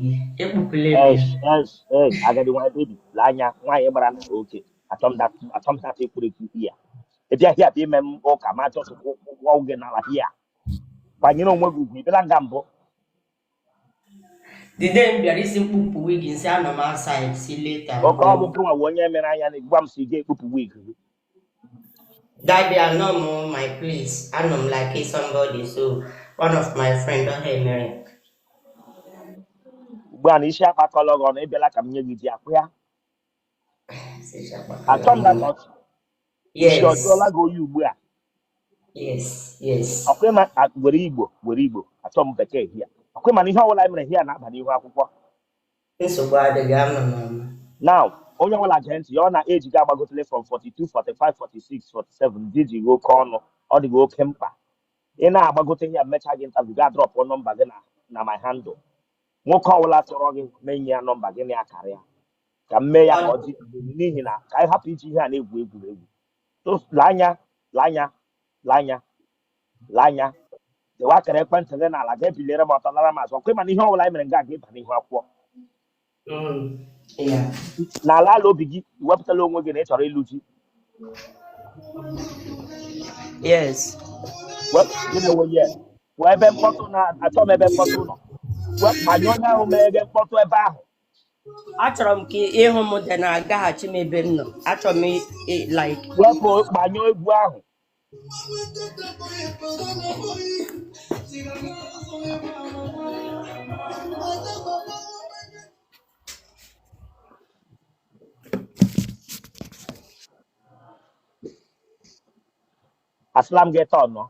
gị ekpupụla ebe ya. Yes, yes, yes. Agadi nwa baby, lee anya nwaanyị gbara na oke achọ m that ekwurekwu ya. Ị bịa hia bịa ime m ụka m a just kụọ gị n'ala ya. Kwanyere onwe gị ugwu, ị bịala nga mbụ. The day m bịara ị sị m kpupụ wig m sị anọ m outside see later. Okay ọ bụ gịnwa wụ onye mere anya na gwa m sị gị kpupụ wig gị. Daddy, I know my place. I know like it's somebody, so one of my friend don't hate me. ugbu a na isi akpakọla gị ọnụ ịbịala ka m nye gị di ọkwa ya achọ m na ka ọchị isi ọ jụọla Yes, gị oyi ugbu a yes, yes. ọkwa ịma a- were igbo were igbo achọ m bekee hia ọkwa ịma na ihe ọbụla anyị mere hia na-aba n'ihu akwụkwọ nsogbu adịghị ama m ama now onye ọbụla gee ntị ya ọ na age gị agbagotele from 42 45 46 47 di dị gị oke ọnụ ọ dị gị oke mkpa ị na-agbagote hia mechaa gị interview gị adrọpụ nọmba gị na na my handle nwoke ọbụla chọrọ gị m enye ya nọmba gị na ya karịa ka m mee ya ka ọ dị n'ihi na ka anyị hapụ iji ihe a na-egwu egwuregwu So, lee anya lee anya lee anya lee anya dewe akara ekwentị gị n'ala gị ebiliere m ọtọ laara m azụ ọkwa ịmana ihe ọbụla anyị mere nga a ga ịba n'ihu akwụkwọ n'ala ala obi gị iwepụtala onwe gị na ị chọrọ ịlụ di yes wepụ gị na onwe ya wee ebe mkpọtụ na achọ m ebe mkpọtụ nọ wepụ manye onye ahụ mere ebe mkpọtụ ebe ahụ achọrọ m ka ịhụ m dị na-agaghachi m ebe m nọ achọrọ m i- i- like wepụ gbanyụọ egwu ahụ asịla m gị tọnụọ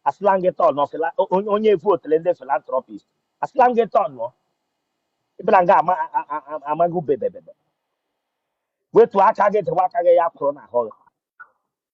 asịla m gị tọnụọ fila o- onye onye evu otele ndị philanthropist asịla m gị tọnụọ ịbịara nga ama a- a- a- amaghị ubebebebe wetu aka gị dewe aka gị ya kwụrụ n'ahụ gị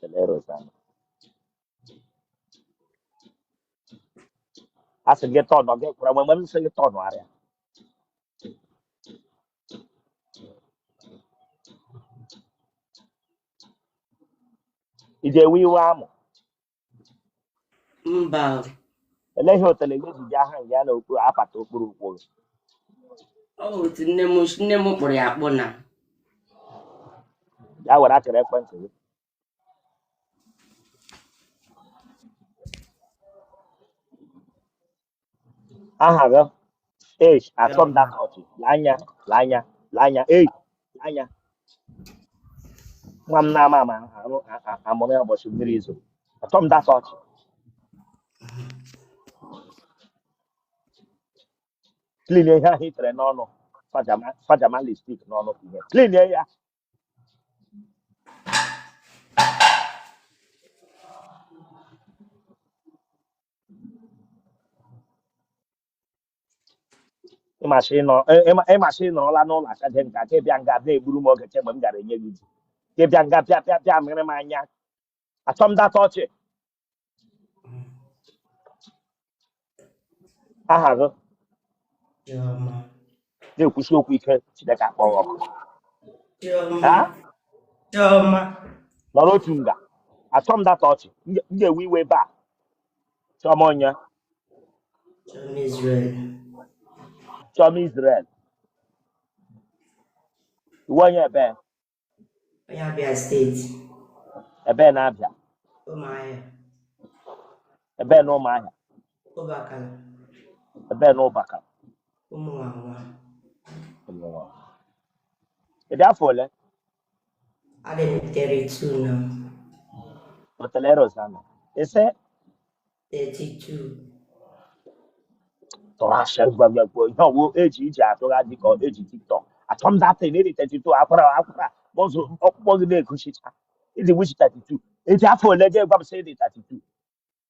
Kelee Rosanna. A sị gị tọnụọ gị kwụrụ mgbe m sị gị tọnụọ arịa. Ị ga-ewe iwe amụ. mba olee ihe otele gị ji bịa ha nga ya na okpu apata okpuru ụkwụ gị ọ bụ otu nne m nne m kpụrụ ya akpụ na ya were akara ekwentị gị aha gị ei achọ m da ka ọchị lee anya lee anya lee anya ei lee anya nwa m na-ama ama arụ a- a- a mụrụ ya ụbọchị mmiri izo achọ m da ka ọchị clean ihe ahụ i tere n'ọnụ fajama fajama lipstick n'ọnụ ihe clean ya ịmasị ịnọ- ị- ịma- ịmasị ị nọrọla n'ụlọ achaje nka ka ị bịa nga na-egburu m oge kemgbe m gara enye gị ji ka ị bịa nga bịa bịa bịa mịrị m anya achọ m data ọchị aha gị Chioma. na-ekwusi okwu ike Chineke akpọ gị ọkụ ha Chioma. Chioma. nọrọ otu nga achọ m data ọchị m ga- m ga-ewe iwe ebe a Chioma onye? Chioma Israel. Chioma Israel. Ị wụ onye ebee? Onye Abia State. Ebee na Abia? Ụmụahịa. Ebee na Ụmụahịa? Ụbakala. Ebee na Ụbakala? Ụmụnwanwa. Ụmụnwanwa. Ị dị afọ ole? Adị m 32 now. Otele Rozana. Ị sị 32. tụrụ ashị gbagbukwa ihe ọ wụ eji iji atụgha dị ka e ji TikTok achọ m data na ị dị 32 akwara akwara bọzụ ọkpụkpụ gị na-egosicha ị dị which 32 ị dị afọ ole i ji gwa m sị ị dị 32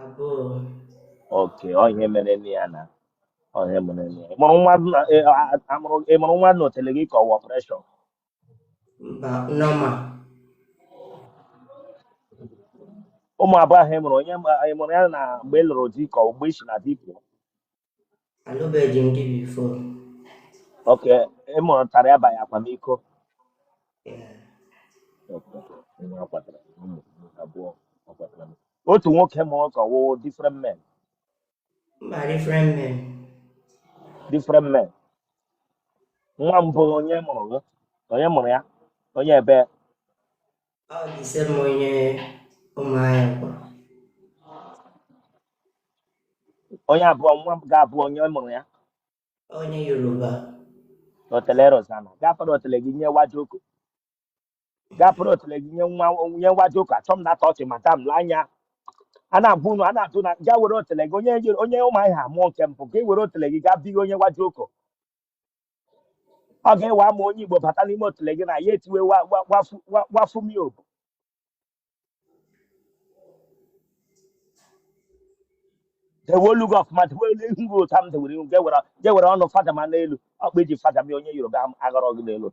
abụọ okay ọ ihe mere nne ya na ọ ihe mere nne ya ị mụrụ nwa na- ị a- a mụrụ ị mụrụ nwa n'otele gị ka ọ wụ operation mba normal ụmụ abụọ ahụ ị mụrụ onye ma- ị mụrụ ya na mgbe ị lụrụ di ka ọ mgbe i si na di pụọ Alụbeghị m di before. okay ị mụtara ya banye akwamiko Okay. Nwa ọ kwatara, ụmụ abụọ ọ kwatara. otu nwoke mụrụ ka ọ wụ different men Mba different men. different men nwa mbụ onye mụrụ gị onye mụrụ ya onye ebee Ọ dị same onye Ụmụahịa kwa. onye abụọ nwa nke abụọ onye mụrụ ya Onye Yoruba. otele Rozana gafere otele gị nye wajoko gafere otele gị nye nwa nye wajoko achọ m data ọchị madam lee anya a na-agwa unu a na-atụ na ga were otele gị onye Yoru- onye Ụmụahịa amụọ nke mbụ ị gaa were otele gị gaa bighị onye wajoko ọ ga-ewe ama onye igbo bata n'ime otule gị na ya etiwe wa- wa- wafu- wa- wafumi obu dewe olu gị ọfụma dewe ihu gị otu a m dewere ihu gị ewere gị ewere ọnụ fada ma n'elu ọkpa eji fada m ya onye yoruba ahụ aghọrọ gị n'elu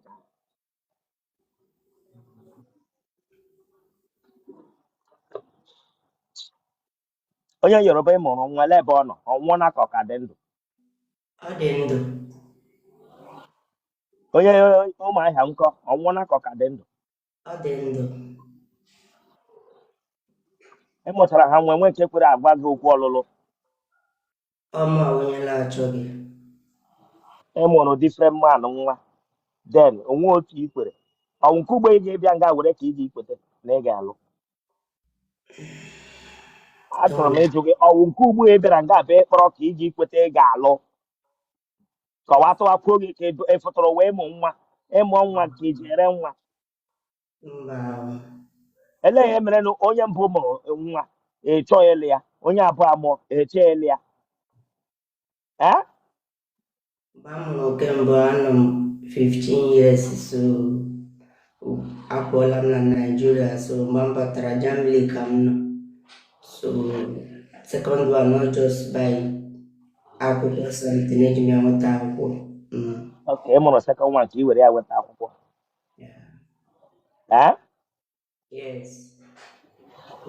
onye yoruba ị mụrụ nwa lee ebe ọ nọ ọ nwụọna ka ọ ka dị ndụ Ọ dị ndụ. Onye Ụmụahịa nkọ ọ nwụọla ka ọ ka dị ndụ. Ọ dị ndụ. Ị mụchara ha nwe nwe nke kwere agwa gị okwu ọlụlụ. Ọ mụ wụ onye na-achọghị. Ị mụrụ different man nwa. Then o nwe otu i kwere. Ọ wụ nke ugbo ị ga-ịbịa nga were ka ị ga-ikwete na ị ga-alụ. achọrọ m ịjụ gị ọ wụ nke ugbu a ị bịara nga bụ ịkpọrọ ka ị ga-ikweta ị ga-alụ kọwatụwakwuo gị ka ị fụtụrụ wee mụ nwa ị mụọ nwa ka i ji ere nwa mba elee ihe mere na onye mbụ mụrụ nwa ị chọ ịlụ ya onye abụọ amụọ ị chọ ịlụ ya ee mgbe m mụrụ nke mbụ anọ m 15 years so apụọla m na naijiria so mgbe m batara germany ka m nọ so second one not just by akwụkwọ something eji m ya nweta akwụkwọ mm. ok ị mụrụ second one ka ị were ya nweta akwụkwọ Yeah. Ah?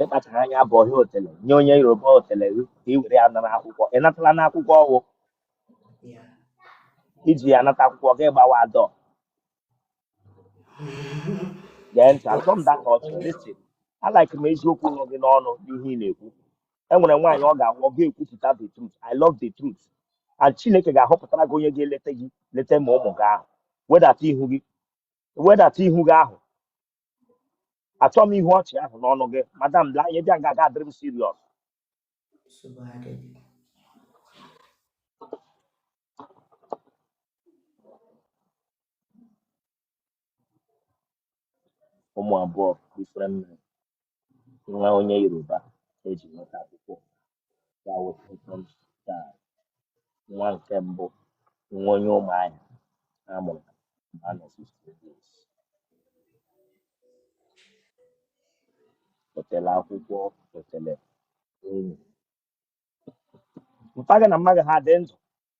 ị kpachara anya bụ ọhịa otele nye onye yoruba otele gị ka ị were ya nara akwụkwọ ị natala akwụkwọ ahụ i ji ya nata akwụkwọ gị gbawa door gee ntị achọ m that ọchị listen a like m eziokwu nọ gị n'ọnụ n'ihe ị na-ekwu e nwere nwaanyị ọ ga-awụ ọ ga-ekwupụta the truth i love the truth and chineke ga-ahọpụtara gị onye ga-eleta gị leta ma ụmụ gị ahụ wedata ihu gị wedata ihu gị ahụ achọ m ịhụ ọchị ahụ n'ọnụ gị madam lee anya bịa nga ga-adịrị m serious nsogbu adịghị ụmụ abụọ different men nwa onye yoruba eji nweta akwụkwọ ya wụ second child, nwa nke mbụ, nwa onye Ụmụahịa a mụrụ na mgbe a nọ 15 years. Otele akwụkwọ, otele enyi. Mpa gị na mma gị ha dị ndụ?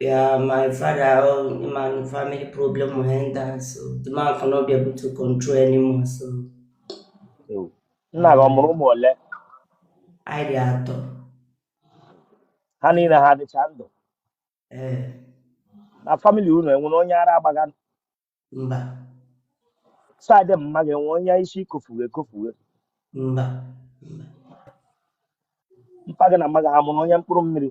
Yeah, my father, oh, my family problem henda, so the man cannot be able to control anymore. So Ewu. nna gị ọ mụrụ ụmụ ole anyị dị atọ. ha niile ha dịcha ndụ Eh, na famili unu enwere onye ara agbaga mba, saịdị mma gị enwe onye isi kofuwe ekofuwe mba, mba. mpa gị na mma gị ha mụrụ onye mkpụrụ mmiri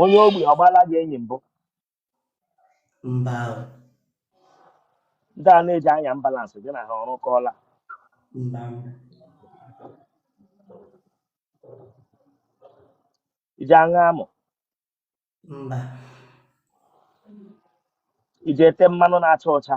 onye ogbi ọ gbaala gị enyi mbụ mba o, ndị a na-eji anya ambulansị gị na ha ọrụkọọla mba mba ị ji aṅụ amụ mba ị ji ete mmanụ na-acha ọcha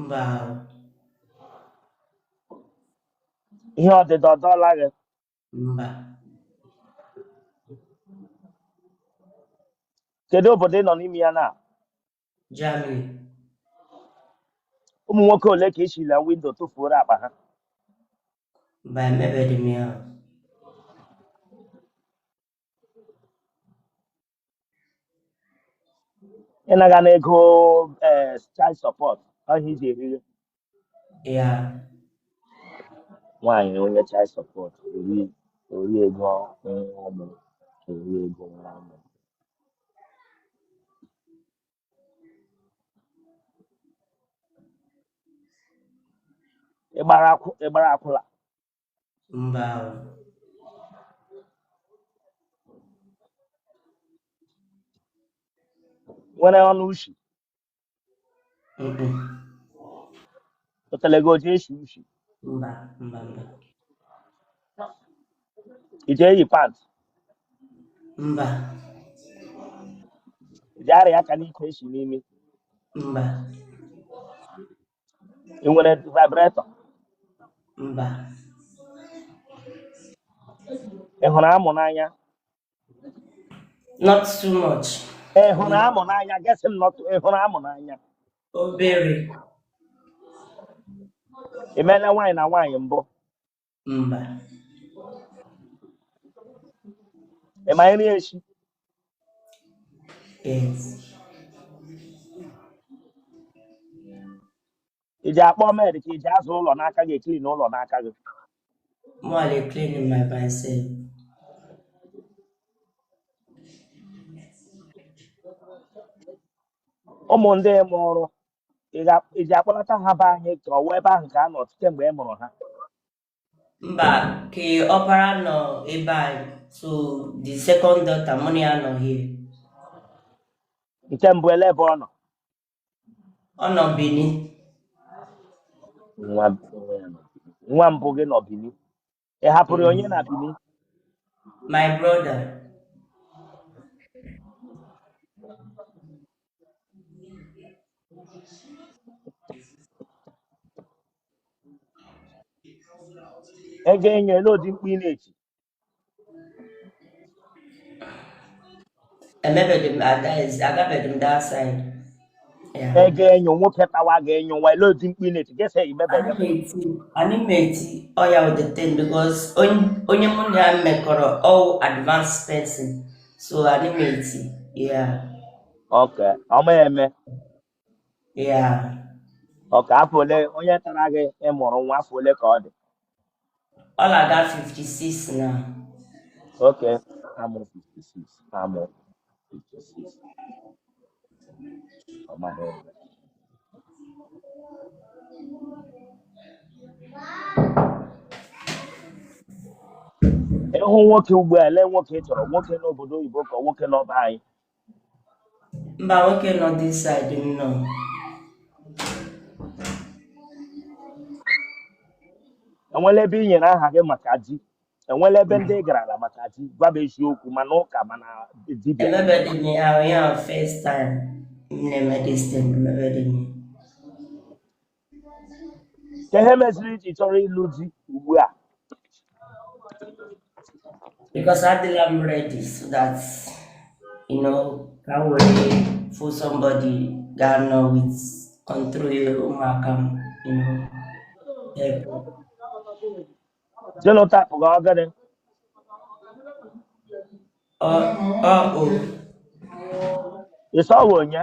mba ihe ọdịdọ ọ dọọla gị mba kedu obodo ị nọ n'ime ya na Germany ụmụ nwoke ole ka i sila windo tụfuoro akpa ha mba emebeghị m ya ị naga ana ego eh, child support ahụ ị ji eriri ya nwaanyị onye child support ori ori ego nwa ọmụ ori ego nwa ọmụ ị gbara akwụ- ị gbara akwụla mba ị nwere ọnụ ushi Mm-mm. otele gị ọ ji eshi ushi mba mba mba ị ji eyi pant mba ị ji arụ aka n'ike eshi n'imi mba ị nwere vibrator mba ị hụrụ amụ n'anya not too much ị hụrụ amụ n'anya gesi m nọtụ ị hụrụ amụ n'anya obere ị meela nwaanyị na nwaanyị mbụ mba ị ma nri eshi ị ji akpọ med ka ị ji aza ụlọ n'aka gị eklin ụlọ n'aka gị More like cleaning by myself. ụmụ ndị mụrụ Ị ji akpọlata ha be anyị ka ọ wụ ebe ahụ ka ha nọ kemgbe ị mụrụ ha mba nke ọpara nọ ebe anyị so the second daughter mụ na ya nọ here nke mbụ ele ebe ọ nọ ọ nọ Benin nwa nwa mbụ gị nọ Benin ị hapụrụ ya onye na Benin my brother ego enyo ele ụdị mkpu ị na-eti emebeghị m agabeghị m that side yeah e ga-enyo nwoke tawa ga-enyo nwa ele ụdị mkpu ị na-eti gesa emebeghị m anyị meti ọya with the thing because onye mụ na ya mekọrọ ọ advanced person so anyị meti ya okay ọ ma eme okay afọ ole onye tara gị ị mụrụ nwa afọ ole ka ọ dị ọ na-aga 56 now okay amụ 56 amụ 56 ọ ma eme. ịhụ nwoke ugbu a ele nwoke ị chọrọ nwoke n'obodo oyibo ka nwoke nọ be anyị mba nwoke nọ this side m nọ enwela ebe i nyere aha gị maka di enwela ebe ndị ị garala maka di gwa m eziokwu ma n'ụka ma na dibịa emebedị m ya ahụ ya first time m na-eme this thing emebedị m ya kee ihe meziri i ji chọrọ ịlụ di ugbu a because adịla m ready so that you know ka m were fụ somebody ga-anọ with control ụmụaka m you know help Genotype gị ọ gịnị? ọ ọ o Ị sọghị onye?